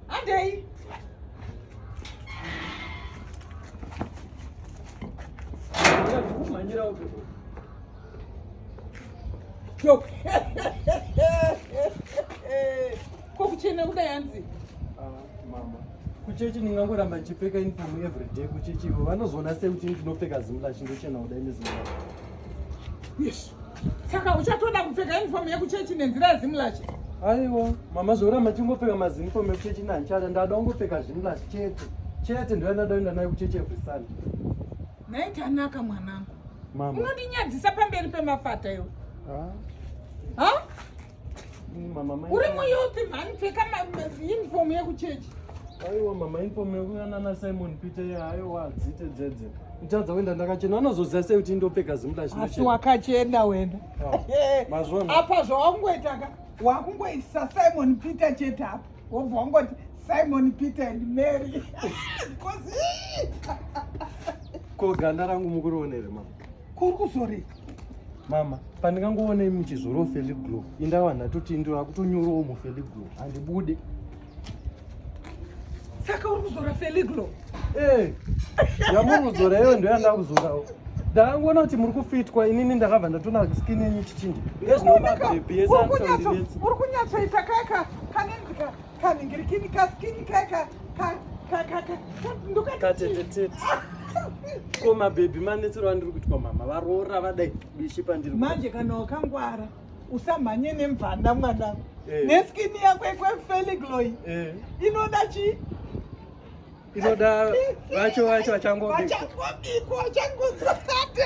Andei. Manyira uko. Yo. Ko kuchena kuda yanzi. Ah, mama. Kuchechi ndingangoramba ndichipfeka uniform every day kuchechi ivo vanozoona sei kuti ndinopfeka zimlash ndochena kuda ine zimlash. Yes. Saka uchatoda kupfeka uniform yekuchechi nenzira yezimulachi? Aiwa, mama zvaura machingopfeka maziniform ekuchechi nanchada ndada ungopfeka zvimulachi chete. Chete ndiyo ndada kuenda nayo kuchechi every Sunday. Naye tanaka mwanangu. Mama. Unondinyadzisa pamberi pemafata iwe. Ah. Huh? uri muyupi mhani pfeka uniform yekuchechi aiwa mama uniform yekuya nana simon peter aiwa dzite dzedze nditadza kuenda ndakachena anozoziva sei kuti ndopfeka zimudashiasi wakachena wena ah, apa zvawangoitaka wakungoisa simon peter chete apa wobva wangoti simon peter and mary ko ganda rangu mukurionere mama kuri kuzorei mama pandingangoonei muchizoro mufeli glow indawa ndatoti ndiro akutonyorowo mufeli glow handibude saka uri kuzora feli glow ee eh, yamuri kuzora iyo ndo yandava kuzorawo ndakangoona kuti muri kufitwa inini ndakabva ndatona skin yenyu chichinja ezvinomabebi uri kunyatsoita kaka kanenzika kaningirikini kaskini kaka katetetete ko mabhebhi manetsero andiri kuitwa mama varoora vadai bishi pandiri manje kana wakangwara usamhanye nemvanda mwana eh. neskini yako yekwefeligloy eh. inoda chii inoda vacho vacho vachangobikwa vachangozate